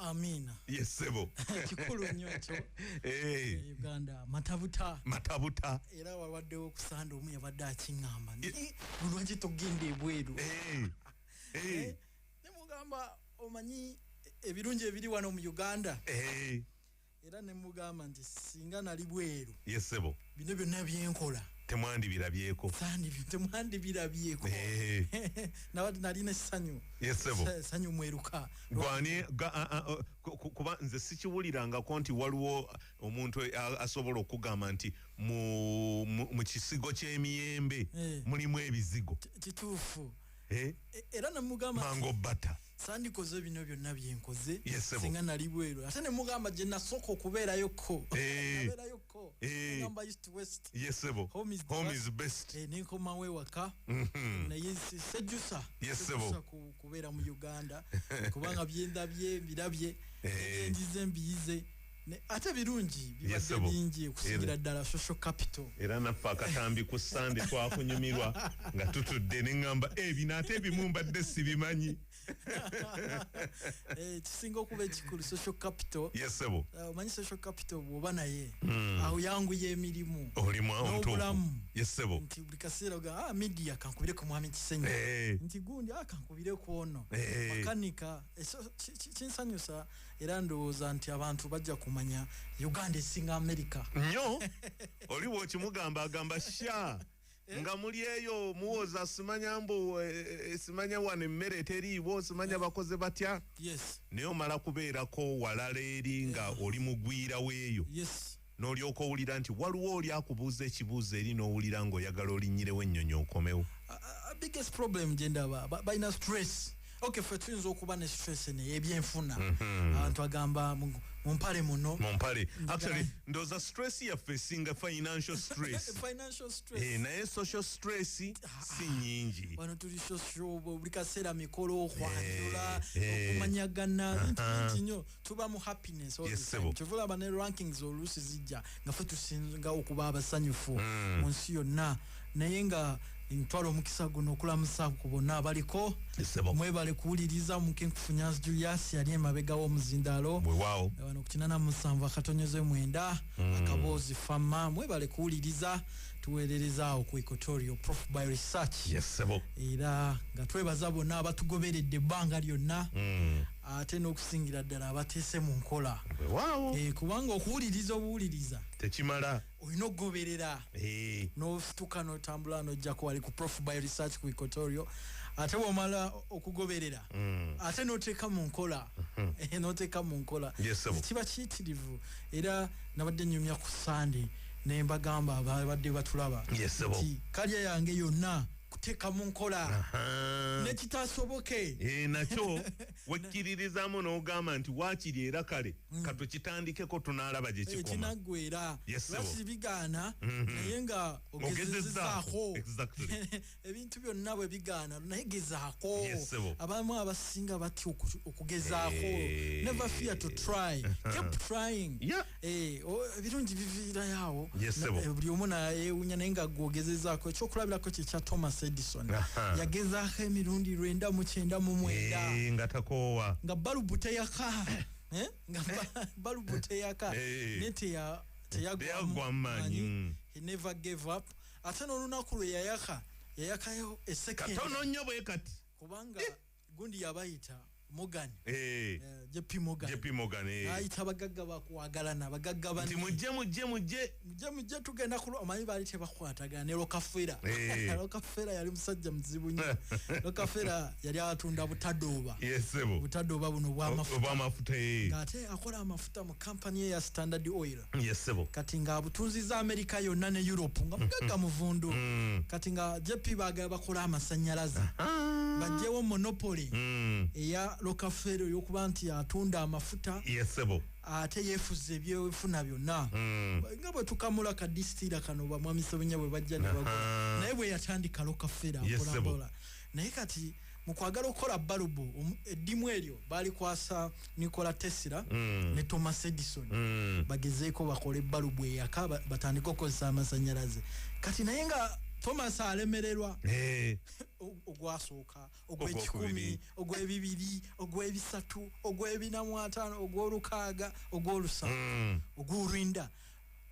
Amina. Yes, sebo. Kikulu nnyo ekyo. Hey. Eh. Uganda matabuta. Matabuta. Era walwaddewo okusanda omu yabadde akingamba. Ni eh. lwaki togenda ebweru. Hey. Eh. Hey. Eh. Ne mugamba omanyi ebirungi ebiri wano mu Uganda. Hey. era ne mugamba nti singa nali bweru ye sebo bino byonna byenkola temwandibirabyeko temwandibirabyeko eh. nabati nalina essanyu essanyu mweruka gwani kuba nze sikiwulirangako nti waliwo omuntu asobola okugamba nti mu kisigo ky'emiyembe eh. mulimu ebizigo kituufu eh? e, era namugamba mango bata sandikoze bino byonna byenkoze singa nali bweru ate nemugamba gye nasooka okubeerayo ko eh. nabeerayo ko eh. ngamba east west yesebo home is, home is best eh, nenkomawo ewaka mhm. naye sejusa yesebo kubeera mu uganda kubanga byendabye birabye eh. enjize mbiyize ate birungi bibadde bingi okusingira ddala social capital era naffe akatambi ku sande twakunyumirwa nga tutudde neŋamba e eh, bino ate ebimu mbadde sibimanyi eh, kisinga okuba ekikulu social capital yesebo eh, omanyi social capital bwoba naye hmm. awo yanguya emirimu olimuobulamu yesebo nti buli kaseera ga ah, media kankubire ku mwami kisenyi nti gundi ah, kankubire ku ono makanika kinsanyusa era ndowooza nti abantu bajja kumanya uganda esinga amerika nyo oli bwokimugamba agamba sha eh? nga muli eyo muwoza simanya mbu eh, eh, simanya wano emmere teriiwo simanya bakoze batya naye omala kubeerako walala eri nga oli mugwira weeyo N'olyoka owulira nti waliwo oli akubuuza ekibuuzo eri n'owulira ng'oyagala olinnyirewo ennyonyi okomewo. Biggest problem gye ndaba balina stress. Okay, ffe tuyinza okuba ne stress eno ey'ebyenfuna. Mhm. Abantu agamba mu mpale muno. Mu mpale. Actually, ndowooza stress yaffe esinga financial stress. Financial stress. Eh, naye social stress si ah, nyingi. Wano tuli social buli kaseera mikolo, okwanjula, eh, eh. okumanyagana, bintu bingi nnyo. tuba mu happiness all yes, the time kyovula aba ne rankings oluusi zijja nga fe tusinga okuba abasanyufu mm. mu nsi yonna naye nga ntwala omukisa guno okulamusa ku bonna abaliko mwebale kuwuliriza omukenkufunyansi julius yali emabega w'omuzindaalo wano ku kinana musanvu akatonyoze mwenda mm. akaboozi fama mwebale kuwuliriza tuweerereza awo ku equatorio prof by research era nga twebaza bonna abatugoberedde ebbanga lyonna mm. ate n'okusingira ddala abateese mu nkola wewaawo e, kubanga okuwuliriza obuwuliriza tekimala olina okugoberera e. Eh. nosituka notambula nojjako wali ku prof by research ku ecotorio ate womala okugoberera mm. ate noteeka mu nkola mm-hmm. eh, noteeka mu nkola yes, kiba kiyitirivu era nabadde nyumya ku sande nembagamba babadde batulaba yes, nti kalya yange yonna kuteeka mu nkola nekitasoboke eh, nakyo wekkiririzamu n'ogamba nti waakiri era kale mm. katukitandikeko tunaalaba gye eh, kikomakinaggwera lwaki bigaana mm-hmm. naye nga ogezezaako ebintu byonna bwe bigaana naye gezaako abamu abasinga batya okugezaako eh. never fear to try keep trying Eh, ebirungi biviirayo awo eh, buli omu nayewunya naye nga gwogezezaako ekyokulabirako kyekya thomas edison yagezaako emirundi lwenda mukyenda mu mwenda eh, nga takoowa nga balubu teyaka nga balubu teyaka ne teyagwa mumaanyi mm. he never gave up ate n'olunaku lwe yayaka yayakayo esekatono nnyo bwe kati kubanga gundi yabayita Morgan eh, eh JP Morgan JP Morgan eh ayita bagagga bakwagalana bagagga bani mujje mujje mujje mujje mujje tugenda kulo amanyi bali te bakwataga ne lokafera eh. lokafera yali musajja mzibu nyo lokafera yali atunda butadoba yes sebo butadoba buno bwa mafuta bwa mafuta eh ate akola amafuta mu company ya Standard Oil yesebo kati nga abutunziza amerika yonna ne europe nga mugagga mm. muvundu mm. kati nga jp bagala bakola amasanyalaze bajjewo monopoli mm. eya lokafero yokuba nti atunda amafuta yesebo ate yefuza ebyefuna byonna nga bwetukamula kadisitira kano bamwami sebenya bwebajja naye bweyatandika lokafero akola naye kati mu kwagala okukola balubu um, eddimu eryo baalikwasa nikola tesira mm. ne thomas edison mm. bagezeeko bakole balubu eyaka batandike okukozesa amasanyalaze kati naye nga thomas alemererwa eh. ogwasooka ogwekikumi ogwebibiri ogwebisatu ogwebinamwatano ogwolukaaga ogwolusamu mm. ogwolwenda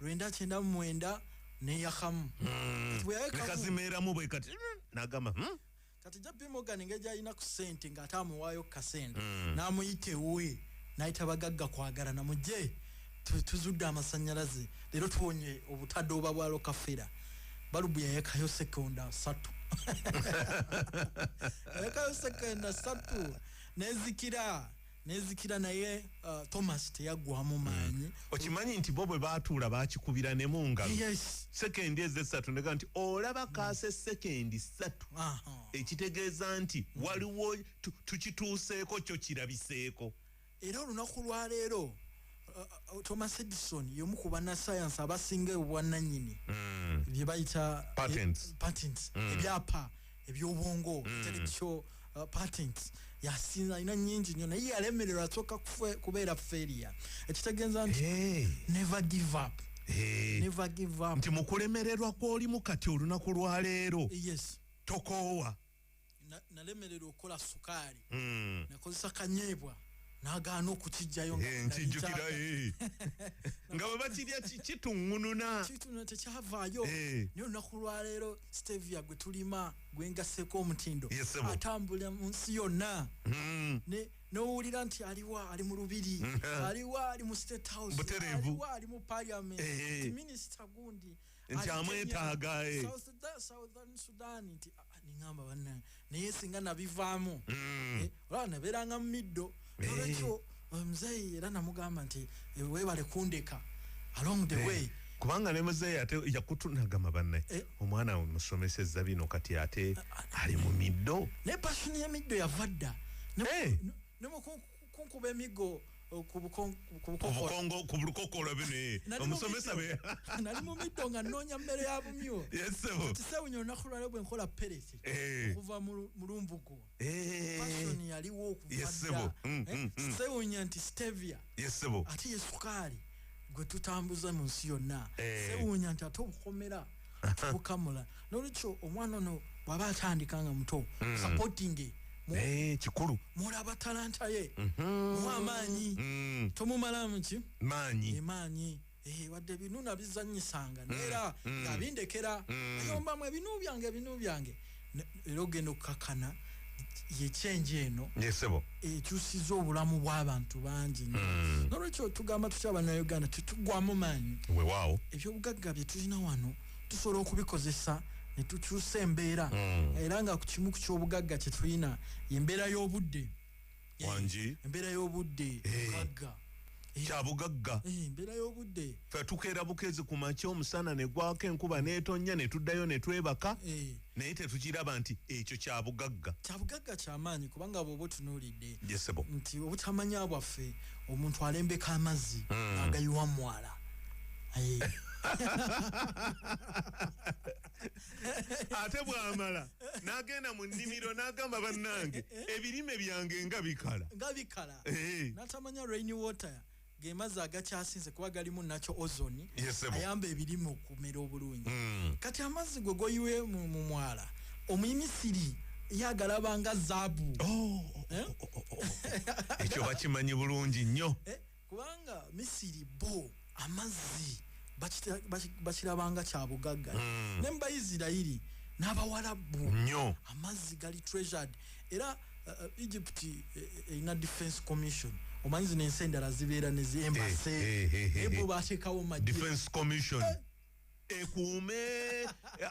lwenda kyenda mumwenda neyakamu mm. nekazimeeramu bwekati mm, nagamba hmm? kati jp morgan engeri gyalina ku sente ng'ate amuwaayo ku kasente mm. n'amuyita ewuwe n'ayita bagagga kwagala namugye tuzudde amasannyalaze leero tuwonye obutadooba bwa lokafera balubu yayekayo sekonda satu yayekayo sekonda satu nezikira nezikira naye uh, thomas teyaggwamu hmm. maanyi mm. okimanyi nti bo bwe baatuula bakikubira ne mu ngalo yes. sekendi ezo essatu nega nti olaba hmm. kaase sekendi ssatu uh -huh. ekitegeeza nti mm. waliwo tukituuseeko kyo kirabiseeko era olunaku lwaleero uh, uh, thomas edison yomu ku banasayansi abasinga obwananyini mm. byebayita patents, patents. Mm. ebyapa ebyobwongo mm. intellectual uh, patents yasinza alina nyingi nyo naye yalemererwa asooka kubeera failure ekitegeeza nti hey. never give up hey. never give up nti mukulemererwa kwolimu kati olunaku lwaleero yes tokoowa nalemererwa okukola sukaali mm. nakozesa kanyeebwa nagaana okukiggyayo eh, nkijjukira eh. nga bwe bakirya kituŋununa kituŋuna tekyavaayo eh. naye olunaku lwaleero stevia gwe tulima gwe ngaseeko omutindo atambula mu nsi yonna hmm. nowulira nti aliwa ali mu lubiri hmm. aliwa ali mu state house aliwa ali mu parliament minisita gundi nti amwetaaga eh. southern sudan nti ah, ah, ningamba banange naye singa nabivaamu mm. eh, olaba nabeeranga mu middo eh. nolwekyo omuzeeyi era namugamba nti webale kundeka along the way kubanga ne muzeeyi ate yakutunagama banne omwana we musomeseza bino kati ate ah, ali mu middo naye passion yemiddo yava dda kunkuba emigo eh, ku bukoko olabe naye omusomesa be nali mu middo nga nnoonya mmere ya bumyo kisewunya olunaku lwaleo bwe nkola pereki eh. okuva mu lumbugu eh. pasoni yaliwo okuvadda mm, mm, mm. kisewunya nti stevia ate ye sukaali gwe tutambuza mu nsi yonna sewunya nti ate obukomera kukamula nolwekyo omwana ono bwaba atandika nga muto mm. supportinge eh, kikulu mulaba talanta ye mhm. mu amaanyi mm. tomumalamu ki maanyi emaanyi eh, wadde ebinu nabizanyisanga mm. neera nga bindekera ayombamu ebinu byange ebinu byange era ogenda okukakana yekyenje eno nesebo ekyusiza obulamu bw'abantu bangi hmm. nolwekyo tugamba tutya banauganda tetugwamu maanyi wewaawo ebyobugagga bye tulina wano tusobola okubikozesa ne tukyusa embeera hmm. era nga ku kimu ku kyobugagga kye tulina embeera y'obudde eh, wangi embeera y'obudde mugagga eh. kyabugagga eh, embeera y'obudde fe tukeera bukezi ku makya omusana ne gwako enkuba n'etonnya ne tuddayo ne twebaka naye tetukiraba nti ekyo kyabugagga kyabugagga kyamaanyi kubanga bwoba otunuulidde yesebo nti obutamanya bwaffe omuntu alembeka amazzi hmm. agayiwa mwala ate bwamala nagenda mu nnimiro nagamba bannange ebirime byange nga bikala nga bikala eh. natamanya rain water gemazzi agakyasinze kuba galimu nakyo ozoni ayamba ebirime okumera obulungi hmm. kati amazzi gwe goyiwe mu mwala omuyimisiri yagalabanga zaabu oh, oh, oh, eh? ekyo bakimanyi bulungi nnyo eh? kubanga misiri bo amazzi bakirabanga kyabugagga mm. ne mubaisirairi n'abawalabu nyo amazzi gali treasured era uh, uh, egypt eh, eh, erina uh, uh, defense commission omanyi zino ensi endala zibeera neziembase hey, hey, hey, hey, bateekawo madefense commission eh. ekuume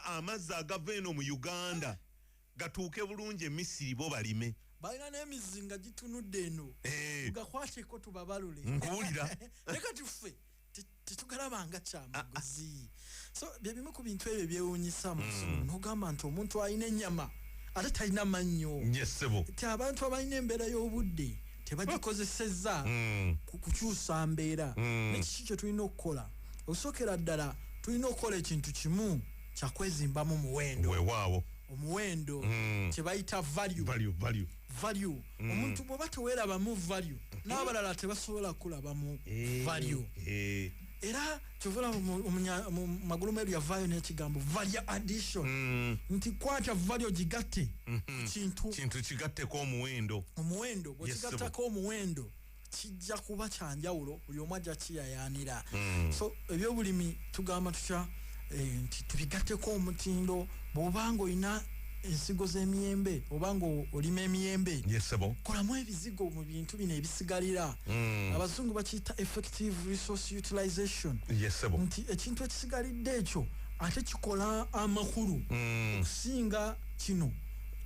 amazzi agava eno mu uganda gatuuke bulungi e misiri bo balime balina n'emizinga gitunudde eno eh. gakwateko tubabalule nkuwulira ne kati ffe tetugalabanga kyamaguzi ah, ah. so byebimu ku bintu ebyo byewunyisa hmm. nogamba nti omuntu alina enyama ate talina mannyo ti abantu abalina embeera y'obudde tebagikozesezza hmm. kukyusa mbeera hmm. nekiki kyetulina okukola okusokera ddala tulina okukola ekintu kimu kyakwezimbamu muwendo wewaawo omuwendo mm. kyebayita value value value value mm. omuntu bwoba tewerabamu value n'abalala tebasobola kulabamu eh, value eh. era kyovula mumagulu meru yavaayo n'ekigambo value addition mm. nti kwata value gigatte mm-hmm. kintu kintu kigatteko omuwendo omuwendo bwekigattako omuwendo kijja kuba kyanjawulo buli omu ajja kiyayaanira mm. so ebyobulimi tugamba tutya eh, nti tubigatteko omutindo bwobanga olina ensigo z'emiyembe oba nga olima emiyembe yesebo kolamu ebizigo mu bintu bino ebisigalira mm. abazungu bakiyita effective resource utilization yesebo nti ekintu ekisigalidde ekyo ate kikola amakulu mm. okusinga mm. kino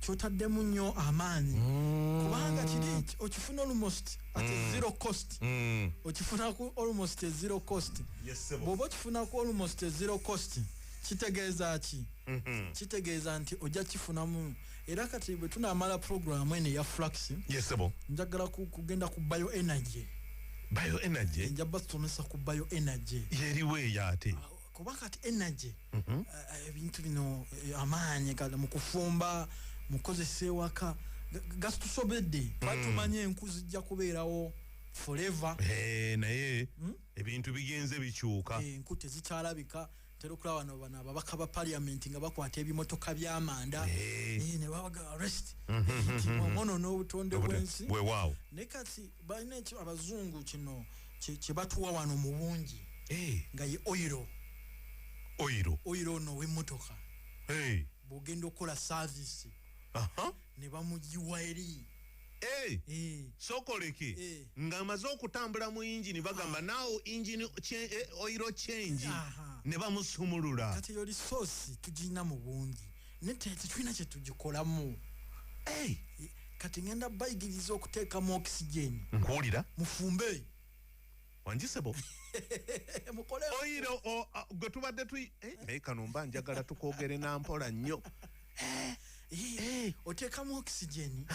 kyotaddemu nnyo amaanyi mm. kubanga kiri okifuna almost at mm. zero cost mm. okifuna ku almost zero cost yes, bwoba okifuna ku almost zero cost kitegeeza ki mm -hmm. kitegeeza nti ojja kifunamu era kati bwe tunaamala programu eno eya flux yes, njagala kugenda ku bio energy bio energy nja basomesa ku bio energy yeriweeyo ate kuba kati energy mhm. eh, eh, ebintu bino eh, amaanyi gala mu kufumba mu kukozesa ewaka gasitusobedde mm. batumanye enku zijja kubeerawo forever naye hmm? ebintu bigenze bikyuka enku tezikyalabika tera okulaba no bano ababaka ba parliament nga bakwata ebimotoka byamanda ne babaga arrest mhm. omono n'obutonde bwensi naye kati balina ekyo abazungu kino kyebatuwa wano mu bungi eh. nga ye oyiro oyiro oyiro ono w'emmotoka eh. bw'ogenda okukola saavisi ne bamugiwa eri eh. sokoleke ng'amaze okutambula mu yingini bagamba naawo yingini oyiro change ne bamusumulula kati yoli soosi tugirina mu bungi naye tetulina kyetugikolamu hey. kati ngenda bayigiriza okuteekamu oxygen nkuwulira mufumbe wanjisebo mukole oyiro gwe tubadde tuyi eh, naye kano mba njagala tukwogere nampola nnyo eh, eh, oteekamu oxygen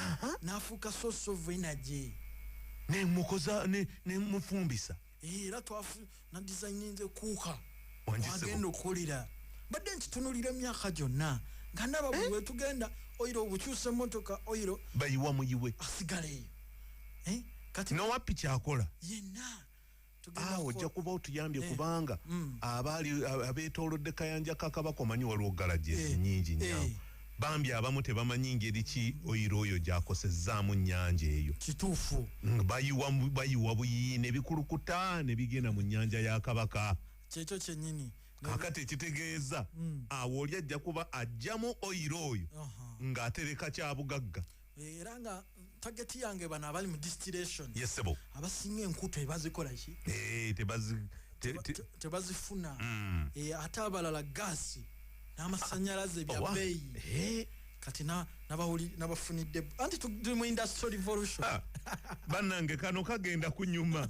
nafuuka source of energy nemukoza nemufumbisa era twafu na designinze kuuka agenda okukolera mbadde nkitunulira emyaka gyonna nga ndaba buli eh? wetugenda oyiro obukyusa emotoka oyiro bayiwa muyiwe asigala eyo eh? kati nowappi kyakola yenna ah, ojja kuba otuyambye eh. kubanga mm. abaali abetolodde kayanja kakabako manyi waliwo galaji ezinyingi nyawo Bambi abamu tebamanyi ngeri ki oil oyo gyakosezzaamu nnyanja eyo. Kituufu. Ng bayiwa bayiwa buyiyi ne bikulukuta ne bigenda mu nnyanja ya Kabaka. Kyekyo kyennyini. Kaakati ekitegeeza awo oli ajja kuba aggyamu oil oyo ng'atereka kyabugagga. Eh, era nga tageti yange bano abali mu distillation yesebo abasinga enkuto ebazikola ki eh, tebazifuna hmm. eh, ate abalala gaasi n'amasanyalaze bya oh, beeyi kati nabafunidde anti tuli mu industry revolution ah, bannange kano kagenda kunyuma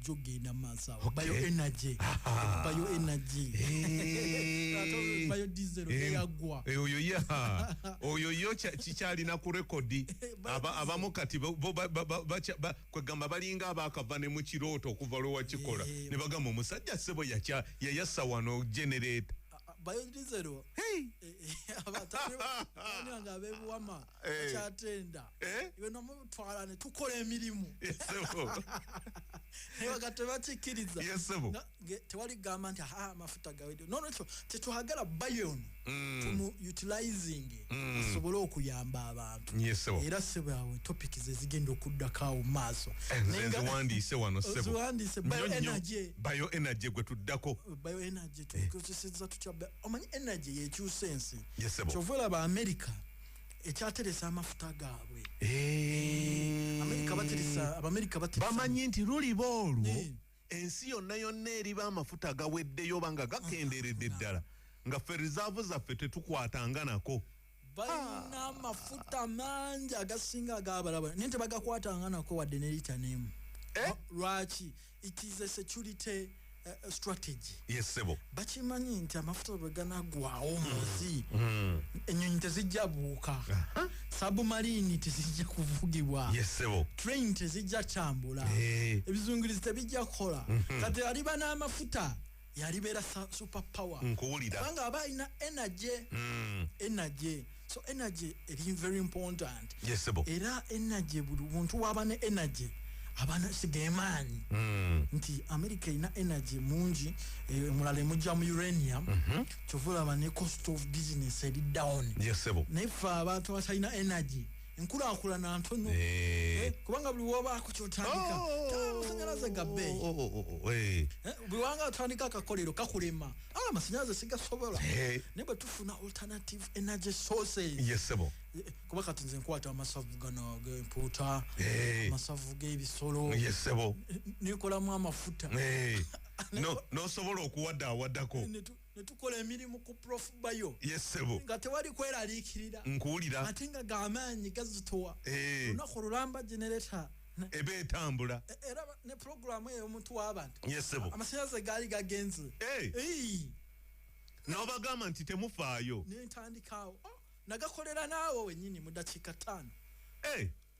jo genda maaso awo Okay. bayo energy Aha. bayo energy Eh. Ate bayo diesel Eh, eyagwa eh, oyo ye ha. oyo yo kya- kikyalina ku rekodi Ba- Aba- abamu kati bo- bo- ba- ba- ba- bakya- ba- kwegamba balinga abakava ne mu kirooto okuva lwe wakikola Eh, ne bagamba omusajja sebo yakya- yayasa wano genereeta bayo diesel Hey! abatani nga abebuwama eh. kyatenda eh? iwe nomutwala ne tukola emirimu naye wakati tebakikkiriza tewali gamba nti aa amafuta gawedde nonekyo tetuhagala bayon mm. tumu utilizing mm. asobole okuyamba abantu era sebwawe topic zezigenda okuddakaawo mu maaso ziwandiise wano seziwandiise bio energy gwe tuddako bio energy tukozeseza tutya omanyi energy yekyusa ensi kyova olaba america ekyateresa amafuta gaabwe eh. abamerika bamanyi nti luliba olwo eh. ensi yonna yonna eriba amafuta agaweddeyo oba nga gakenderedde ah, ddala nga ffe rizaavu zaffe tetukwatanga nako balina amafuta mangi agasinga agabalaba naye tebagakwatanga nako wadde ne lita nemu eh? lwaki it is a security eh, eh, strategy yes sebo bakimanyi nti amafuta bwe ganagwawo mm. munsi mm. enyonyi tezijja buuka sabumarini tezijja kuvugibwa yes sebo train tezijja kyambula eh. ebizungirizi tebijja kukola mm-hmm. kati aliba n'amafuta yalibeera super power nkuwulira kubanga aba alina energy mm. energy so energy eri very important yes, era energy buli muntu waba ne energy abana sigemaanyi mm. nti america erina energy mungi e, eh, mulala emujja mu uranium mm -hmm. kyovulaba ne cost of business eri down yes, naye fe abantu abatalina energy enkulakulana ntono eh. Eh, kubanga buli wobaako kyotandika amasanyalaze oh. gabe oh, oh, eh. buli wanga otandika akakolero kakulema ah, amasanyalaze sigasobola naye bwe tufuna alternative energy sources kuba kati nze nkwata amasavu gano gempuuta amasavu g'ebisolo nekolamu amafuta nosobola okuwadaawadako netukola emirimu ku prof bayo yesebo nga tewali kweraliikirira nkuwulira ate nga gamaanyi gazitowa eh. olunaku olulamba generata eba etambula e, era ne programu eyo omuntu wabantu yesebo amasanyalaze gaali gagenze eh. nobagamba nti temufaayo nentandikaawo oh, nagakolera naawo wenyini mu dakiika ttaano eh.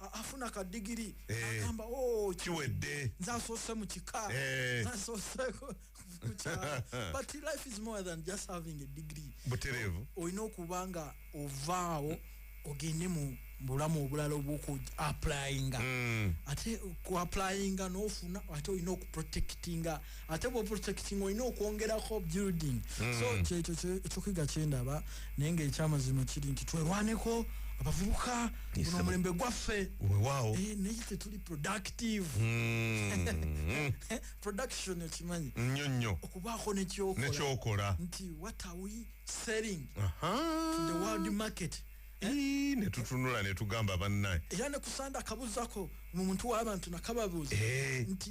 afuna ka digiri eh. agamba oh, kiwedde nze asoose mu kika eh. asooseko mukyala but life is more than just having a degree butereevu olina okuba nga ovaawo ogende mu bulamu obulala obwoku applyinga mm. ate ku applyinga nofuna ate olina okuprotectinga ate bwo protecting olina okwongerako building mm. so kyekyo ekyokuyiga kyendaba naye nga ekyamazima kiri nti twerwaneko abavubuka guno omulembe gwaffe wewaawo eh, naye tetuli productive mm. production ekimanyi nnyo nnyo okubaako nekyokola nti what are we selling uh -huh. to the world market Eh? netutunula netugamba bannaye era nekusanda akabuzako mu muntu wabantu nakababuuza eh. nti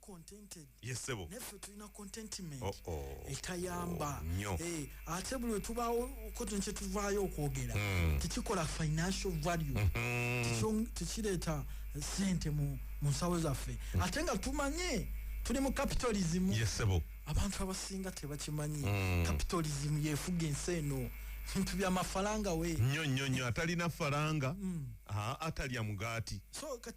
contented yes sebo neffe tulina contentment oh, oh, etayamba oh, nyo hey, eh, ate buli wetubawo koton kyetuvaayo okwogera mm. tekikola financial value mm -hmm. tekireeta sente mu, mu nsawo zaffe mm. ate nga tumanye tuli mu capitalism yes sebo abantu abasinga tebakimanyi mm. capitalism yefuga ensi eno bintu bya mafaranga we nyo nyo nyo atalina faranga mm. atalya mugati so,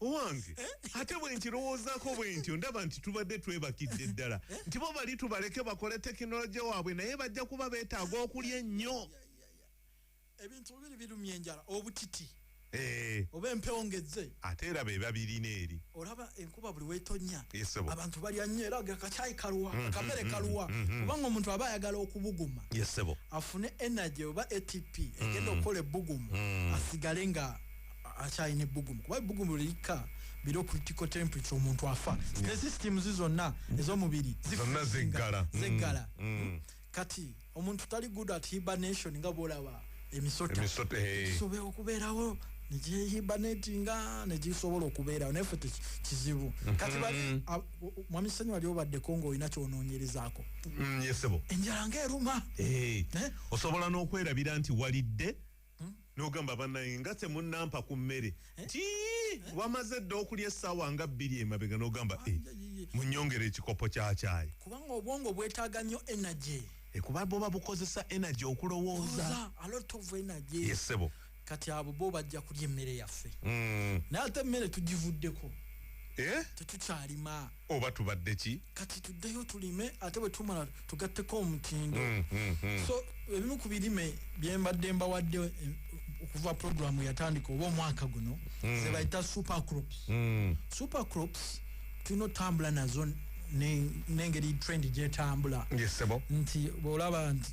owange ate bwe nkirowoozako bwe ntyo ndaba nti tubadde twebakidde ddala nti bo bali tubaleke bakole tekinologye waabwe naye bajja kuba beetaaga okulya ennyo ebintu bibiri birumya enjala obutiti eh. oba empewo ngezze ate era be babirina eri olaba enkuba buli wetonya abantu balya nnyo era gakakyayi kalwa mm-hmm, kamere mm-hmm, kalwa mm-hmm. kubanga omuntu aba ayagala okubuguma afune energy oba atp egenda mm. okukola ebbugumu mm. asigale nga akyalina ebbugumu kuba ebbugumu lirikka biro critical temperature omuntu afa ne systems zonna mm. ez'omubiri zonna zeggala mm. zeggala mm. kati omuntu tali good at hibernation nga bwolaba emisota gisobola eh. okubeerawo negihibanatinga negisobola okubeerawo naye fe kizibu mm-hmm. kati bali mwami sanyu wali obaddeko ngaolina kyononyerezaako enjala ngaeruma eh. eh? osobola n'okwerabira nti walidde hmm? nogamba banaye nga temunampa ku mmere eh? ti eh? wamaze dda okulya essaawa nga bbiri emabega nogamba ah, eh, munyongere ekikopo kyakyayi kubanga obwongo bwetaaga nnyo energy kuba boba bukozesa energy okulowooza yesebo kati abo bo bajja kulya emmere yaffe hmm. naye ate emmere tugivuddeko tetukyalima eh? oba tubadde ki kati tuddeyo tulime ate bwe tumala tugatteko omutindo mm, mm, mm. so ebimu ku birime bye mbadde mbawadde eh, okuva programu yatandika oba omwaka guno mm. ze bayita super crops mm. super crops tulina otambula nazo n'engeri trend gyetambula yes, nti bwolaba nti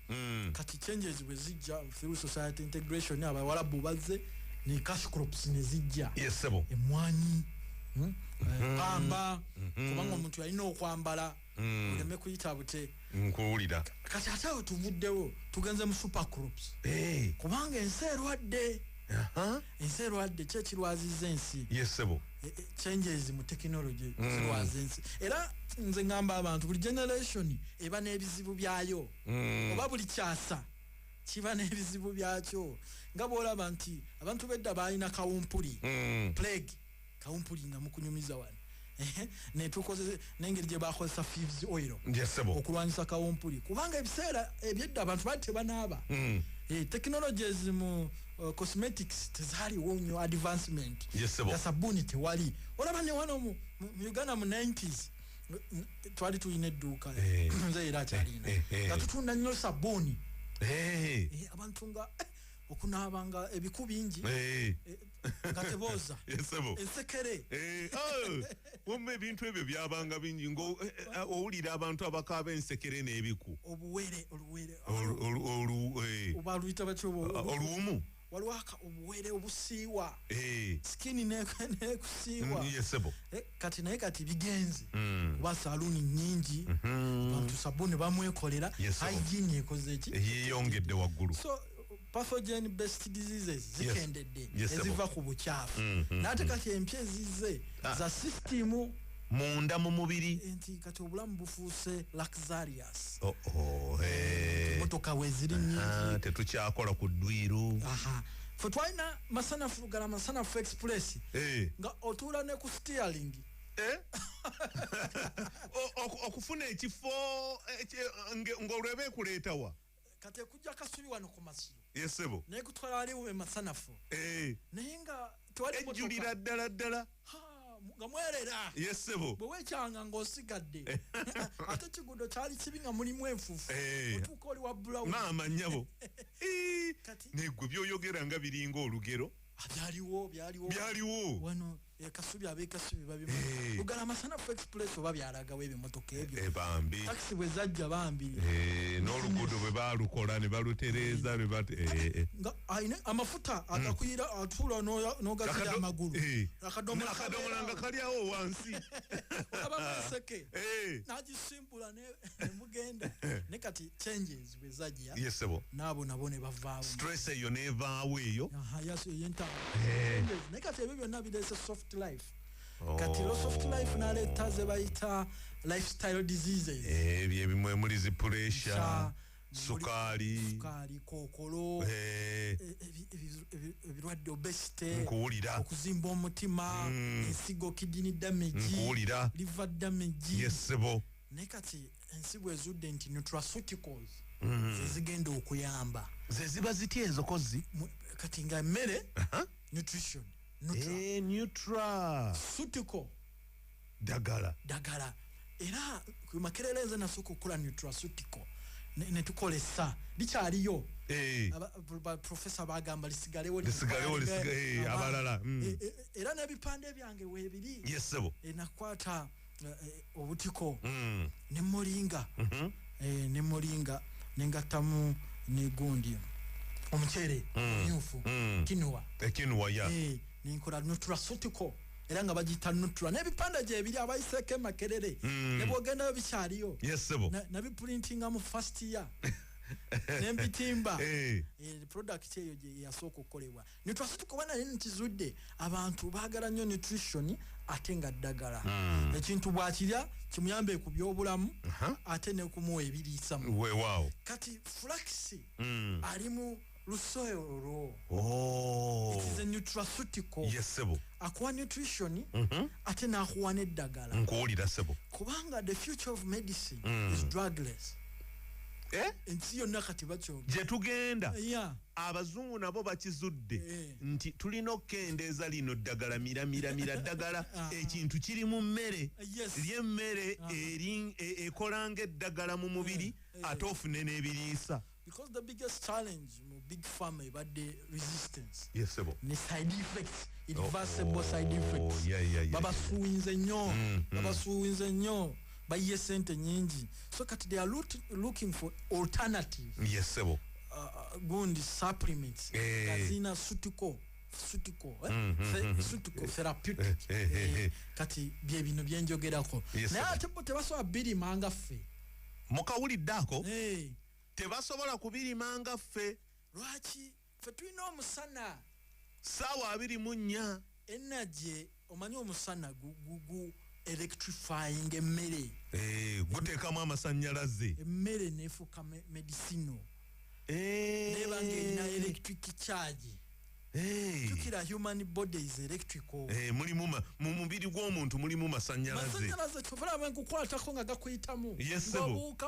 mm. kati changes bwe zijja through society integration abawalabu bazze ne cash crops ne zijja yes, emwanyi hmm? mm -hmm. pamba mm -hmm. kubanga omuntu yalina okwambala mm. oleme kuyita bute nkuwulira kati ate awo tuvuddewo tugenze mu super crops hey. Eh. kubanga ensi erwadde uh -huh. ensi erwadde ki ekirwaziza ensi yesebo e, e, changes mu technology mm. zirwaza ensi era nze ngamba abantu buli generation eba n'ebizibu byayo mm. oba buli kyasa kiba n'ebizibu byakyo nga bwolaba nti abantu bedda baalina kawumpuli mm. plague kawumpuli nga mukunyumiza wano netukoze nengeri gyebakozesa fivs oil okulwanyisa kawumpuli kubanga ebiseera ebyedda abantu bali tebanaaba mm. eh, technologies mu uh, cosmetics tezaliwo nyo advancement nga sabuuni tewali olaba newano mu uganda mu 90s twali tulina edduuka eh. nze era akyalina eh, nga tutunda nnyo sabuuni abantu nga okunaabanga ebiku bingi nga tebooza ensekere eh, oh, wamma ebintu ebyo byabanga bingi ngaowulira eh, eh, abantu abakaaba ensekere n'ebiku obuwere oluwere obaluyita batyo oluwumu walwaka obuwere obusiiwa sikini nekusiiwa mm, kati naye kati bigenzi mm. kuba saluuni nyingi mm-hmm. bantu sabuni bamwekolera hygiene ekoze ki yeyongedde waggulu pathogen based diseases zikendedde eziva ku bukyafu mm, mm, nate mm. kati empya ezizze ah. za system munda mu mubiri nti kati obulamu bufuuse luxurious oh, oh, hey. motoka weziri nyingi tetukyakola ku ddwiru fe twalina masanafu lugala masanafu express hey. Eh. nga otuula ne ku steering eh? okufuna ekifo eh, ngolweba ekuletawa kati ekujja kasubi wano ku masiro yesebo naye kutwala wali we masanafu eh naye nga twali ejulira ddala ddala nga mwerera yesebo bwe wekyanga nga osigadde eh. ate kigudo kyali kibi nga mulimu enfufu eh. otuuka oli wa bulawu maama nyabo negwe byoyogera nga biringa olugero ah, byaliwo byaliwo byaliwo wano ekasubi abekasubi babima hey. ugala masana fu express oba byalaga webe motoka ebyo hey, eh, bambi taxi bwe zajja bambi hey, eh, n'oluguudo bwe baalukola ne balutereeza ne bat eh, aine amafuta hmm. agakuyira mm. atuula n'ogagira amagulu hey. akadomola akadomola nga kalyawo wansi olaba mweseke hey. nagisimbula ne, ne mugenda ne kati changes bezaja yes sebo nabo nabo ne bavaawo stress eyo ne vaawo eyo aha yaso yenta eh ne kati ebyo byonna bidese soft life oh. kati lo soft life na leta ze bayita lifestyle diseases eh bye bimwe muli zi pressure Sa, sukali sukali kokolo eh ebirwadde obesity nkuwulira okuzimba omutima mm. ensigo kidini damage nkuwulira liver damage yes sebo ne kati ensigo ezudde nti nutraceuticals mm. zezigenda okuyamba zeziba zitya ezo kozi kati nga mmere nutrition nutraceuticals eh, dagala dagala era makerere nze nasooka okukola nutraceuticals netukolesa likyaliyo eh. profesa bagamba lisigalewo eh, abalala mm. era nebipande byange webiri nakwata eh, eh, obutiko mm. ne molinga mm -hmm. eh, ne molinga nengattamu negundi omuceere mm. myufu mm. kinua ekinua eh, ya yeah. eh, nenkola nutrasutiko era nga bagiyita nutra n'ebipande gyebiri abayiseeko emakerere mm. nebwogendayo bikyaliyo yes, nabipulintinga mu fast year nembitimba eh. eh, product eyo yasooka okukolebwa netwase tukoba naye nekizudde abantu bagala nnyo nutrition ate nga ddagala mm. ekintu bwakirya kimuyambe ku byobulamu uh -huh. ate nekumuwa ebiriisamu wewaawo kati flaxi mm. alimu lusoyolwo oh. it is a nutraceutical yes sebo akuwa nutrition mm -hmm. ate nakuwa neddagala nkuwulira sebo kubanga the future of medicine mm. is drugless eh? ensi yonna kati bakyogera gyetugenda yeah. abazungu nabo bakizudde eh. nti tulina okukendeeza lino ddagala miramiramira ddagala ah. ekintu kiri mu mmere eh, lyemmere ah. e, ekola nga eddagala mu mubiri eh, ate ofune n'ebiriisa because the biggest challenge mu big farm ebadde resistance yes, sebo. ne side effects irreversible oh, oh, side effects yeah, yeah, yeah, babasuwinze nnyo mm, mm. babasuwinze nnyo bayiye sente nyingi so kati they are loot, looking for alternative yes sebo uh, uh gundi supplements hey. Eh. gazina sutiko sutiko eh? mm, mm, Fe, mm, sutiko eh. therapeutic eh, eh, eh, eh. kati bye bino byenjogerako yes, naye ate bo tebasobola birima nga ffe mukawulidde ako hey. tebasobola kubirima nga ffe lwaki ffe tulina omusana saawa abiri mu nnya enagye omanyi omusana gugugu electrifying emmere eh, guteekamu amasannyalaze emmere nefuuka medicino eh. neba ngaerina electric charge tukira human bodies electrical eh, mulimu mu mubiri gw'omuntu mulimu masanyalazemasanyalaze kyovula bwe nkukwatako nga gakuyitamu yesebuuka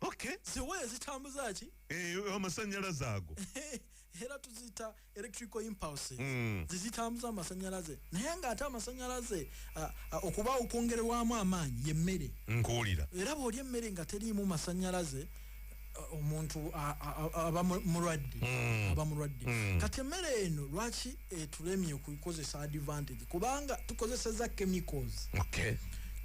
okay ziwaya zitambuza ki eh amasanyalaze ago era tuzita electrical impulse mm. zizitambuza amasanyalaze naye nga ate amasanyalaze okuba okwongerwamu amaanyi yemmere nkuwulira era bw'olya emmere nga teriimu masanyalaze omuntu aba mulwadde mm. aba mulwadde mm. kati emmere eno lwaki etulemye kukozesa advantage kubanga tukozeseza chemicals okay.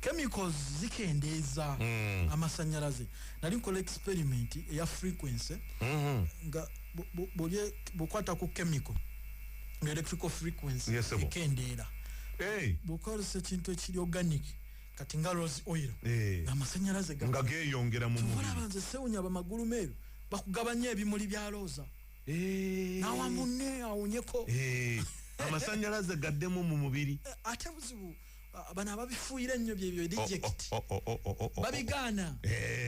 chemicals zikendeeza mm. amasanyalaze nali nkola experiment eya frequency mm -hmm. nga bwokwata ku chemical nga electrical frequency yes, ekendeera hey. bwokozesa ekintu ekiri organic kati nga rose oil hey. Eh. amasanyalaze nga geyongera mu mubiri tubalaba nze sewunya bamagulu meeru bakugabanya ebimuli bya roza Eh. nawa munne awonyeko eh. amasanyalaze gaddemu mu mubiri eh, ate buzibu bano ababifuuyira ennyo byebyo eject oh, oh, oh, babigaana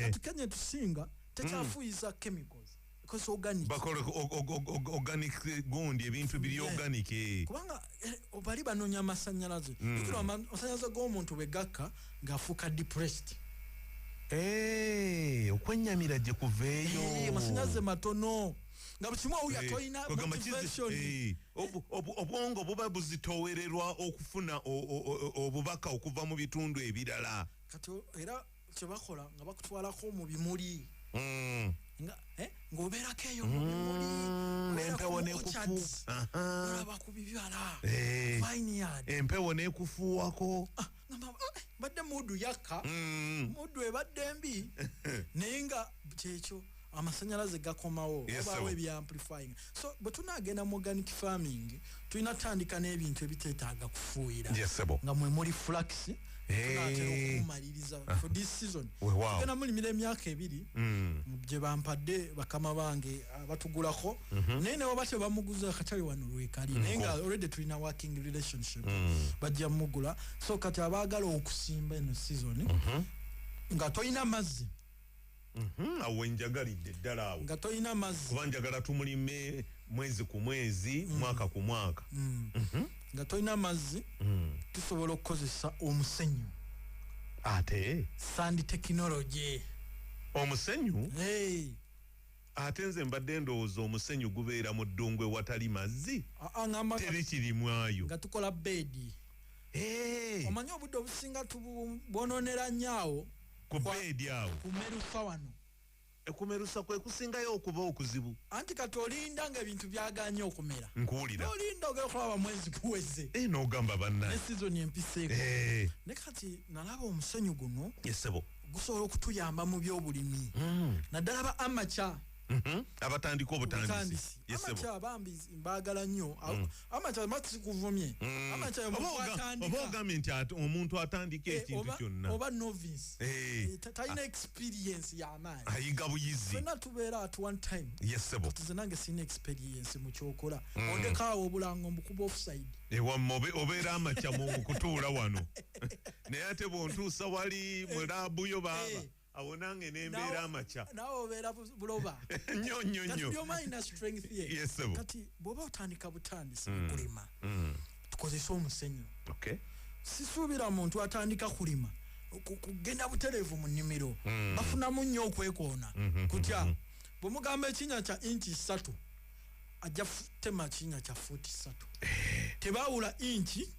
atukenya tusinga tekyafuuyisa mm. chemicals bakola organic gundi ebintu biri organic kubanga eh, bali banonya amasanyalaze mm. ikiro amasanyalaze g'omuntu bwe gakka ng'afuuka depressed eh, okwennyamira gye kuveeyo eh, amasanyalaze matono nga bukimu owu yatoyina motivation obwongo buba buzitowererwa okufuna obubaka okuva mu bitundu ebirala kati era kyebakola nga bakutwalako mu bimuli mm. eh, ng'obeerako eyo mu bimuli mm, empewo nekufuolaba ku bibala eh. empewo nekufuuwako ah, eh, badde mudu yakka mudu ebadde mbi naye nga kyekyo amasanyalaze gakomawo obaawo ebyamplifying so bwe tunaagenda mu organic farming tulina tutandika n'ebintu ebiteetaaga kufuuyira nga mwe muli flax tunatera okumumaliriza for this season tugenda mulimira emyaka ebiri mm. gye bampadde bakama bange abatugulako mhm. naye newaba tebamuguza akatale wano lwekali naye nga mm. already tulina working relationship mm. bajja mugula so kati abaagala okusimba eno season mhm. nga tolina mazzi Mhm, awo wenjagalidde ddala awo nga tolina mazzi kuba njagala tumulime mwezi ku mwezi mm. mwaka ku mwaka mm. mhm. nga tolina mazzi mm. tusobola okukozesa omusenyu ate sandi tekinologi omusenyu ate nze mbadde ndowooza omusenyu gubeera mu ddungu ewatali mazzi teri kirimwayo nga tukola beedi omanyi obudde obusinga tubwononera nyaawo ku beedi awo kumerusa wano ekumerusa kwe kusingayo okuba okuzibu anti kati olinda nga ebintu byaganye okumera nkuwulira olinda ogera okulaba mwezi kuweze e eh, nogamba banna ne sizoni empiseeko eh. ne kati nalaba omusenyu guno yesebo gusobola okutuyamba mu byobulimi mm. naddala ba amaca Mhm. abatandika obutandisi bambi mbagala nnyo mm. amakyamasikuvumye mm. amakyayooba ogambye nti omuntu atandika eh, ekintu kyonna oba novice eh. Eh, talina ah. experience yamaanyi ayiga buyizi fena tubeera at one time yesebo tize nange sirina experience mu kyokola mm. ondekaawo obulango mbukuba offside ewamma obeera amakya mu kutuula wano naye ate bwontuusa wali mulaabuyo baaba awo nange nembeera amakya nawe obeera buloba nyo nyo nyo kati bwoba otandika butandisi mm. kulima mm. tukozese omusenyu sisuubira muntu atandika kulima kugenda butereevu mu nnimiro mm. bafunamu nnyo okwekoona mm-hmm. kutya mm-hmm. bwemugamba ekinya kya inki ssatu ajja futema kinya kya fuuti ssatu eh. tebaawula inki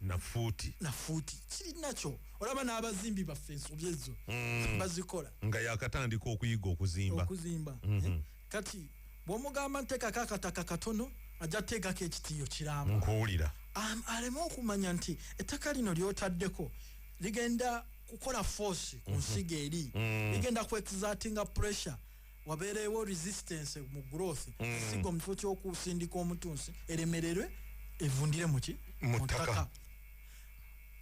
nafuuti nafuuti kirinakyo olaba n'abazimbi baffe ensobi ezo mm. bazikola nga yakatandika okuyiga okuzimba okuzimba mm -hmm. kati bwomugamba ntekako akataka katono ajja tegako ekitiyo kiramu nkuwulira aleme okumanya nti ettaka lino lyotaddeko ligenda kukola force ku mhm. nsiga eri mm. ligenda ku exertinga pressure wabeereewo resistance mu growth mm. esigo mu kifo ky'okusindika omutunsi eremererwe evundire muki mutaka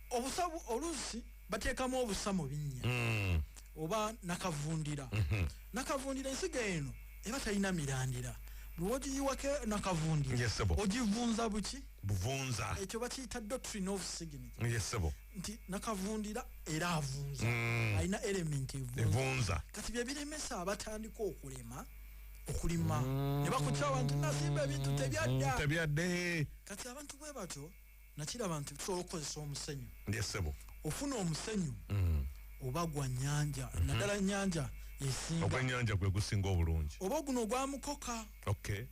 obusa oluusi bateekamu obusa mu binnya mm. oba nakavundira mm -hmm. nakavundira ensigo eno eba talina mirandira lwogiyiwako nakavundira yes, ogivunza buki buvunza ekyo bakiyita doctrine of signature yes, nti nakavundira era avunza mm. alina element evunza kati byebiremesa abatandika okulema okulima mm. nebakukyawa nti nasimba ebintu mm. tebyadda mm, tebyadde kati abantu bwe batyo nakiraba nti tusobola okukozesa omusenyu ndesebo ofuna omusenyu mm. oba gwa nyanja mm -hmm. naddala nyanja esinga ogwenyanja gwe gusinga obulungi oba guno ogwamukoka okay.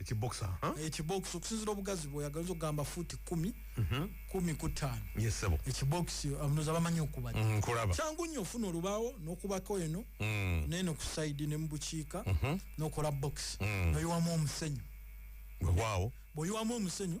ekibox aha ekibox okusinzira obugazi bwoyagala oza okugamba fuuti kumi mhm. kumi ku ttaano yesebo ekibox abanoza bamanyi okuba mm, kulaba kyangu nnyo ofuna olubaawo n'okubako eno mm. neeno ku saidi ne mu bukiika mhm. n'okola box mm. noyiwamu omusenyu wewaawo bwoyiwamu omusenyu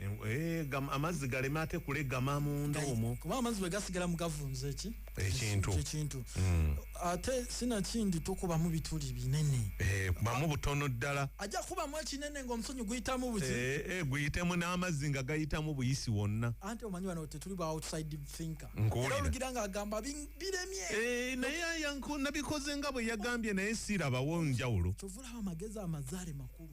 Eh, eh, amazzi galeme ate kulegama munda omwo kuba amazzi bwe gasigala mu gavunza eki ekintu ekintu hmm. ate sinakindi tukubamu bituli binene eh, kubamu butono ddala ajja kubamu ekinene ng'omusonyi guyitamu buki guyitemu n'amazzi nga gayitamu buyisi wonna anti omanyi wano tetuli ba outside thinker era olugira ng'agamba biremye naye ayanku nabikoze nga bwe yagambye naye sirabawo njawulo kyovulaba amagezi amazaale makulu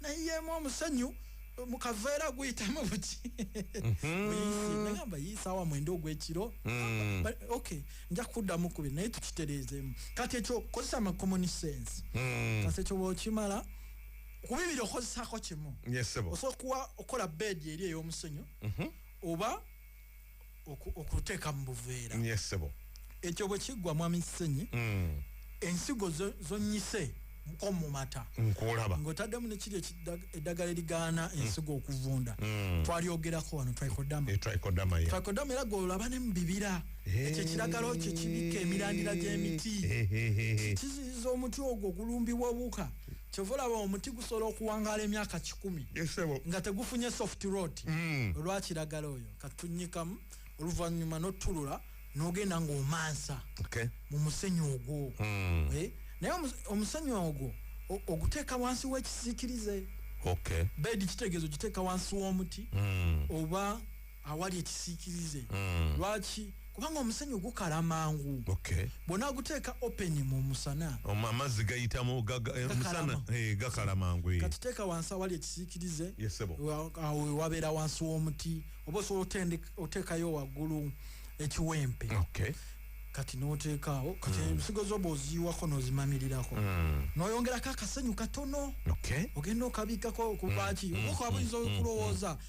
nayemu omusanyu mukaveera guyitamu buki mhm. nagamba yiisaawa mwenda ogwekiro mm. ok nja kuddamu kubi naye tukitereezemu kati ekyo kozesa amacommon sense mm. kati ekyo bwokimala kubibiri okozesako kimu osobola okuwa okola bedi eri ey'omusenyu mhm. oba okuteeka mu buveera yesebo ekyo bwe kiggwa mwami ssenyi mm. ensigo zonnyise ko mu mata nkulaba ng'otaddemu nekiri eddagala erigaana mm. ensigo okuvunda mm. twalyogerako wano trikodama eh, trikodama era gwolaba ne mu bibira eh. ekyo ekiragalo kyo kibikka emirandira gy'emiti eh, kiziyiza omuti ogwo ogulumbibwa obuka kyova olaba omuti gusobola okuwangaala emyaka kikumi nga tegufunye soft road mm. olwakiragala oyo katunyikamu oluvanyuma notulula nogenda ngaomansa okay. mu musenyi ogwo mm. eh? naye omusenyi ogwo oguteeka wansi wekisiikirize okay. bedi kitegeezo giteeka wansi w'omuti mm. oba awali ekisiikirize mm. lwaki kubanga omusenyu gukala mangu okay. bona guteeka open mu musana amazzi gayitamu eh, musana eh, gakala mangu eh. katuteeka wansi awali ekisiikirize awo wabeera wansi w'omuti oba osobola oteekayo waggulu ekiwempe okay. kati noteekaawo kati mm. ensigo mm. zoba oziyiwako nozimamirirako mm. noyongerako akasenyu katono okay. ogenda okabiikako kubaaki mm. mm. oba kwabuyinza mm. okulowooza mm.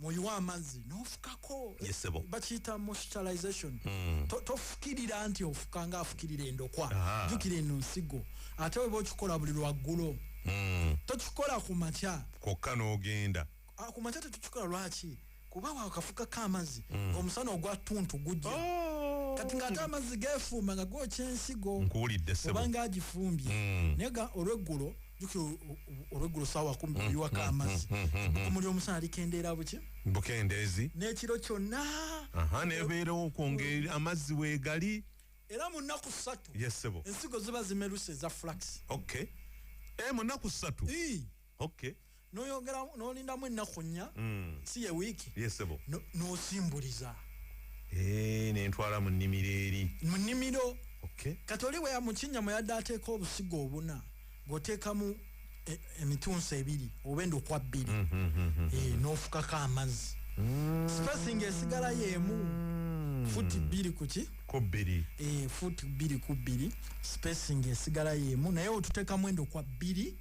mwoyiwa amazzi nofukako yesebo bakiyita moisturization mm. tofukirira to nti ofuka nga afukirira endokwa jukira eno nsigo ate weba okikola buli lwaggulo mm. tokikola ku makya kokka n'ogenda ah, ku makya tetukikola lwaki kuba wakafukako amazzi mm. omusana ogwa tuntu gujja oh. kati ng'ate amazzi gefuuma nga gokyensigo nkuwulidde sebo oba ng'agifumbye mm. naye olweggulo jukira olweggulo saawa kumi mm, biwako mm, amazzi mm, bukumu ly'omusana likendeera buki bukendeezi n'ekiro kyonna nebeerawo okwongera amazzi weegali era mu nnaku ssatu yesebo ensigo ziba zimeruse eza flax ok e eh, mu nnaku ssatu ok noyongera nolindamu ennaku nnya mm. si ye wiiki yesebo nosimbuliza eh, nentwala mu nnimiro eri mu nnimiro kati oli weya mukinya mweyadde ateeka obusigo obuna gwoteekamu e, emitunsi ebiri oba endokwa bbiri mm, mm, eh, nofukako amazzi spacing esigala yemu futi bbiri kuki kubbiri eh, futi bbiri kubbiri spacing esigala yemu naye otutekamu endokwa bbiri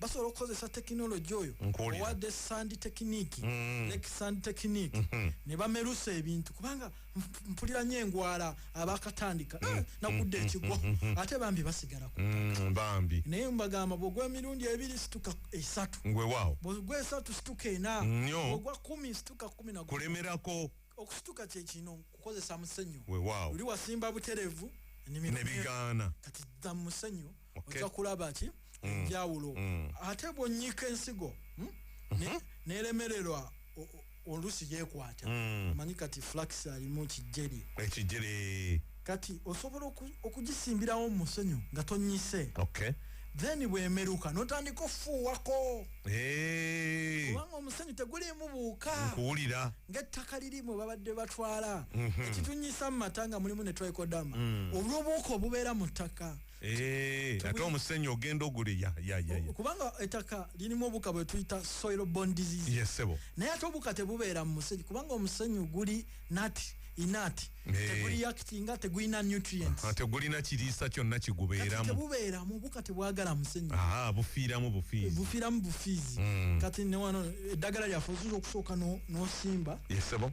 basobola okukozesa tekinologi oyo owadde sandi tekiniki mm. lake sandi tekiniki mm-hmm. ne bamerusa ebintu kubanga mpulira nyo engwala abakatandika mm. eh, nakudde mm-hmm. ekigwa mm-hmm. ate bambi basigala ku mm, bambi naye mbagamba bwogwa emirundi ebiri situka esatu ngwewaawo bwogwa esatu situka ena nyo bwogwa kumi situka kumi na kulemerako okusituka kyekino kukozesa musenyu wewaawo oli wasimba buterevu nebigaana kati dda musenyu okay. oja kulaba ki mm. enjawulo mm. ate bwonyika ensigo hmm? mm-hmm. nelemererwa olusi yekwata mm. manyi kati flax alimu kijeri ekijeri kati osobola okugisimbirawo musenyu nga tonyise okay. then bwemeruka notandika ofuuwako hey. kubanga omusenyu tegulimu buuka nkuwulira ngaettaka lirimu babadde batwala mm -hmm. ekitunyisa mu mata nga mulimu netwekodama mm. olwobuuka obubeera mu ttaka Eh, ate omusenyu ogenda ogule ya ya ya ya kubanga etaka lirimu obuka bwe tuyita soil borne disease yes sebo naye ate obuka tebubeera mu musenyu kubanga omusenyu guli nut inut hey. Eh. teguli yakitinga tegulina nutrients ate ah, gulina kiriisa kyonna kigubeeramu tebubeera mu buka tebwagala musenyu aha bufiiramu bufiizi bufiiramu bufiizi mm. kati ne wano eddagala lyaffe ozuza okusooka n'osimba no yes sebo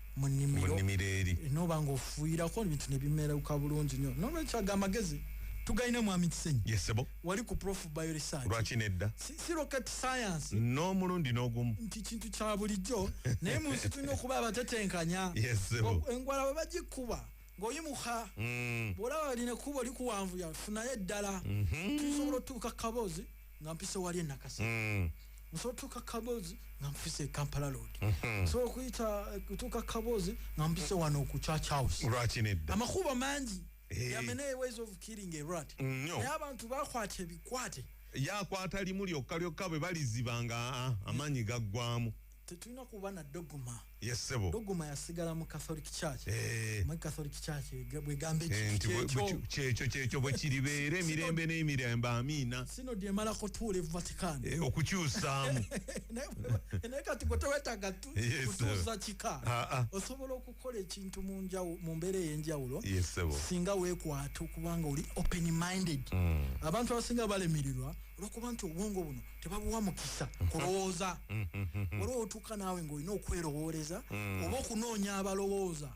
mu nnimiro eri n'oba ng'ofuuyirako ebintu ne bimerauka bulungi nnyo n'olwekyo ago amagezi tugalina mwami kisenyi yesebo wali ku prof bioresearch lwaki nedda si, si rocket science n'omulundi n'ogumu nti kintu kya bulijjo naye mu nsi tulina okuba abatetenkanya yesebo engwala bwe bagikuba ng'oyimuka mm. bw'olaba balina kuba oli kuwanvuya funayo eddala mm-hmm. tusobola otuuka kaboozi nga mpise wali enakasa mm. nsobola otuuka kabozi nga mpise ekampala lod mm-hmm. nsobola okuyita kutuuka kabozi nga mpise wano ku church house lwaki nedda amakubo mangi eh. yameneye ways of killing a rat mm, naye abantu bakwata ebikwate yakwata limu lyokka lyokka bwe baliziba nga ah, amaanyi gaggwamu tetulina kuba na doguma yesebo doguma yasigala mu catholic church eh. mu catholic church bwegamba eh, ekyekyo kyekyo bwe kiribeera emirembe n'emirembe amiina sino dyemalako tuula e vatican eh, okukyusaamu naye kati gwe tewetaga kutuuza kika ah, ah. osobola okukola ekintu mu mbeera ey'enjawulo singa weekwata okubanga oli open minded mm. abantu abasinga balemirirwa olwokuba nti obwongo buno tebabuwa mukisa mm-hmm. kulowooza mm-hmm. olwo otuuka naawe ngaolina okwerowooleza mm. oba okunoonya abalowooza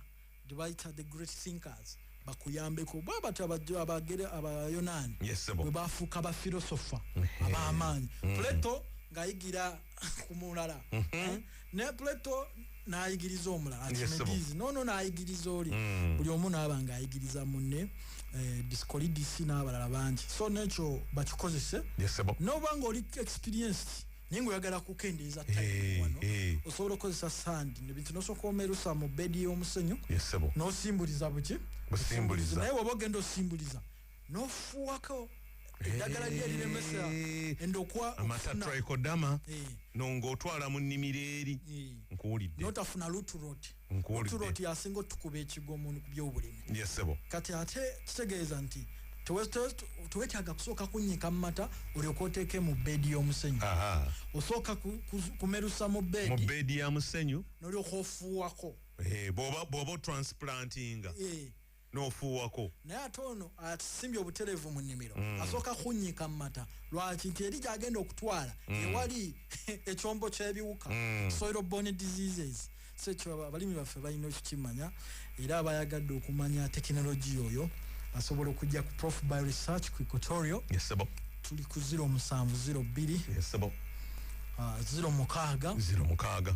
gyebayita the great thinkers bakuyambeko bwabati abagere abayonaani bwe bafuuka bafilosofa mm-hmm. abamaanyi plato ng'ayigira ku mulala eh? ne plato nayigiriza omulala kimedizi nono nayigiriza oli mm. buli omu naaba nga ayigiriza munne eh, discolidis n'abalala bangi so nekyo bakikozese noba nga oli experienced naye nga oyagala kukendeeza eh, wano eh. osobola okukozesa sandi nebintu nosooka omerusa mu bedi y'omusenyu nosimbuliza buki naye waba ogenda osimbuliza nofuwako eddagala lye liremesa endokwa amasatrikodama no ng'otwala mu nnimiro eri nkuwulidde notafuna luturot luturot yasinga otukuba ekigwa omuntu ku byobulimi yesebo kati ate kitegeeza nti tewetaaga kusooka kunyika mu mata olyoka oteeke mu beedi y'omusenyu osooka kumerusa mu beedi ya musenyu nolyoka ofuuwako eh, bwoba otransplantinga eh. nofuuwako naye ate ono atusimbye obutereevu mu nnimiro mm. asooka kunyiika mu mata lwaki nti eri gyagenda okutwala mm. ewali ekyombo kyebiwuka mm. soil borne diseases so ekyo abalimi baffe balina okukimanya era abayagadde okumanya tekinologiya oyo asobola okujja ku prof by research ku equatorio tuli ku 0 musanvu 0 bbiri 0 ah, mukaaga 0 mukaaga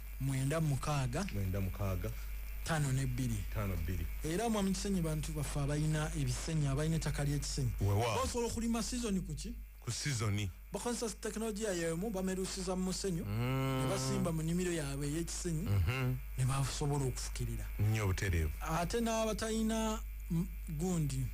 mwenda mukaaga mwenda mukaaga tano ne bbiri tano bbiri era mwa mukisenyi bantu baffe abalina ebisenyi abalina ettaka ly'ekisenyi basobola okulima sizoni ku ki ku sizoni bakozesa tekinologiya yemu bamerusiza mu musenyu mm. ne basimba mu nimiro yaabwe ey'ekisenyi mhm. ne basobola okufukirira nnyo obutereevu ate n'abatalina gundi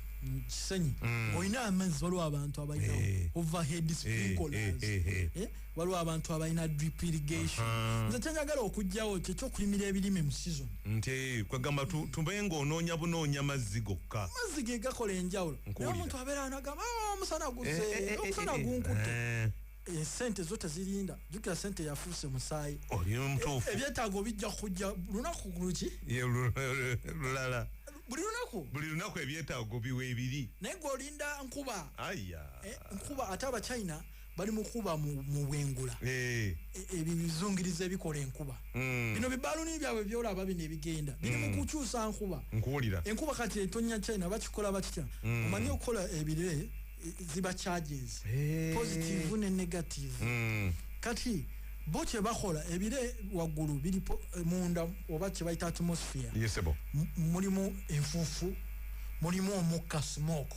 kisenyi mm. olina amazzi waliwo abantu abalina eh. overhead eh, sprinklers eh, waliwo abantu abalina drip irrigation nze kyenyagala okugjawo kyekyokulimira ebirime mu season nti kwegamba tube nga onoonya bunoonya mazzi gokka amazzi ge gakola enjawulo naye omuntu abeera anagamba ah, omusana guze eh, eh, eh, omusana gunkutte esente zo tezirinda jukira sente yafuuse musaayi ebyetaago bijja kujja lunaku luki lulala buli lunaku buli lunaku ebyetaago biwa ebiri naye gweolinda nkuba nkuba ate abachina bali mukuba mubwengula eh. e, ebyo bizungiriza ebikola enkuba hmm. bino bibaluni byabwe byolaba bino ebigenda biri hmm. mukukyusa nkuba nkuwulira enkuba kati etonya china bakikola bakitya hmm. omanyi okukola ebire e, ziba charges eh. positive ne negative kati bo kyebakola ebire waggulu biri e, munda oba kyebayita atmosphere mulimu enfuufu mulimu omukka smoke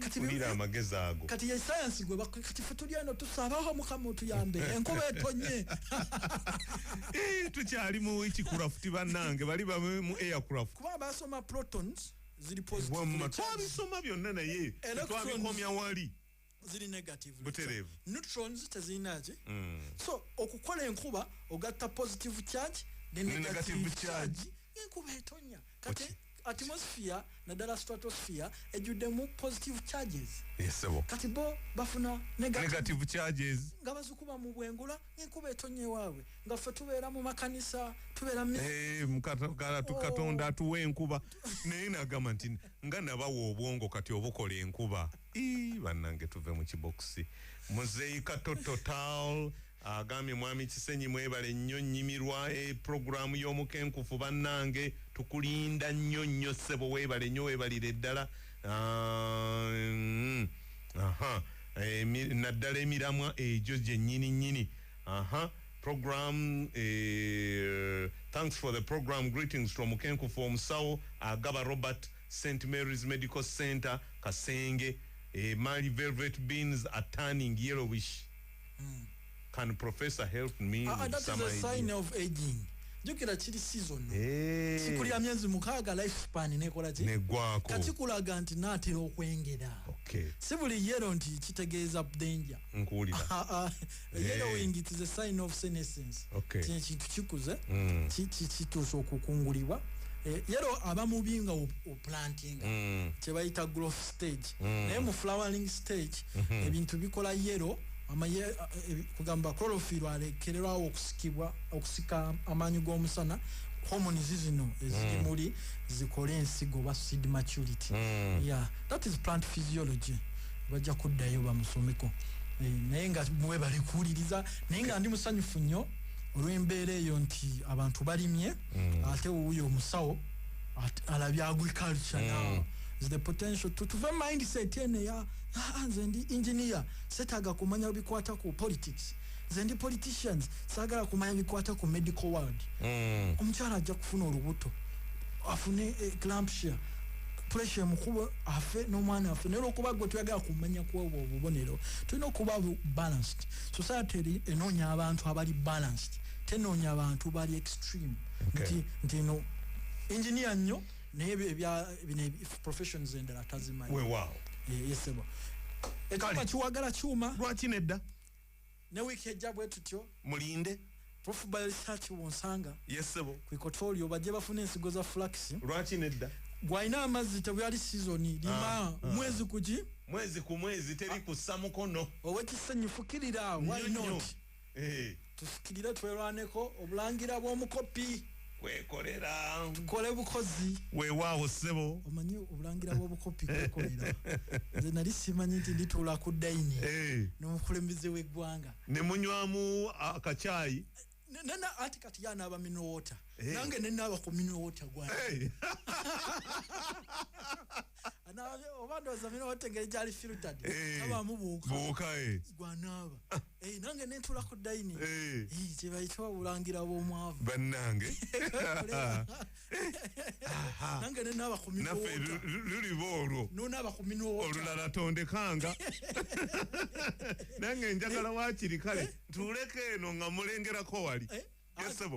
kati wulira amagezi ago kati ye sayansi gwe bakwe kati fe tuli eno tusabaho mukama otuyambe enkuba etonye eh, tukyali mu ekikurafuti bannange bali bame mu aircraft kuba basoma protons ziri positive twabisoma byonna naye twabikomya wali ziri negative buterevu neutrons tezirina ki mm. so okukola enkuba ogatta positive charge ne negative charge enkuba etonya kati atmosphere naddala stratosphere ejjuddemu positive charges yesebo kati bo bafuna negative charges nga bazikuba mu bwengula enkuba etonye waabwe nga ffe tubeera mu makanisa tubeera eh, oh. katonda atuwa enkuba naye nagamba nti nga nabawa obwongo kati obukola enkuba bannange tuve mu kibokisi muzeika tototal Agambye mwami Kisenyi mwebale nnyo nyimirwa e program y'omukenkufu bannange tukulinda nnyo nnyo ssebo webale nnyo webalire ddala ah, mm, aha eh, naddala emiramwa egyo gyennyini nnyini aha program eh, thanks for the program greetings to omukenkufu omusawo agaba robert st mary's medical center kasenge eh, mali velvet beans are turning yellowish mm. can professor help me uh, with some idea? sign of aging jukira kiri season hey. Eh. kikulira myezi mukaaga life span nekola ki negwako kati kulaga nti natera okwengera okay. si buli yero nti kitegeeza danger nkuwulira ah, ah. Eh. yellowing it is a sign of senescence okay. kino kintu kikuze mm. kituusa okukungulibwa eh, yero abamubi nga planting mm. kyebayita growth stage mm. naye mu flowering stage mm -hmm. ebintu bikola yero amaye eh, eh, kugamba chlorophyllo alekererwawo okusikibwa okusika amaanyi g'omusana homoni zizino eziri mm. muli zikole ensigo oba seed maturity mm. yeah. that is plant physiology bajja kuddayo bamusomeko eh, naye nga mwebale kuwuliriza naye nga ndi musanyufu nnyo olw'embeera eyo nti abantu balimye mm. ate wuuyo omusawo At- alabye agriculture Mm. now Is the potential to tuve mindset eno eya "Ah, ah, nze ndi engineer setaaga kumanya bikwata ku politics nze ndi politicians saagala kumanya bikwata ku medical world Mm. omukyala ajja kufuna olubuto afune eh, clampshire pressure emukuba afe n'omwana afe naye olwokuba gwe tuyagala kumanya kwobwo obubonero tulina okuba bu- balanced society eri- enoonya abantu abali balanced tenonya bantu bali extreme okay. nti nti no engineer nyo naye bya bine professions endala tazimanyi we wow eh, yesebo ekamba kiwagala chuma lwaki nedda ne week ejja bwe tutyo mulinde prof by research wonsanga yesebo ku kotorio baje bafuna ensigo za flax lwaki nedda gwaina amazi tebwali season lima ah, ah. mwezi kuji mwezi ku mwezi teri kusamukono owekisanyufukirira why not eh. tufukirire twerwaneko obulangira bw'omukopi kwekolera tukole bukozi wewaawo ssebo omanyi obulangira bw'obukopi kwekolera nze nali simanyi nti ndituula ku dayini eh. n'omukulembeze w'eggwanga ne munywamu akacaayi nena ati kati yana aba minowota hey. nange nena aba ku minowota gwa hey. oba ndowooza mina wategere gyali filtad eh, abamu buuka eh. gwanaaba eh, nange nentula ku daini kyebayita obulangira bwomwavu bannange nange nenaaba ku minaffe luliba olwo nonaaba ku minwoota olulala tondekanga nange njagala wakiri kale tuleka eno nga mulengerako wali yesebo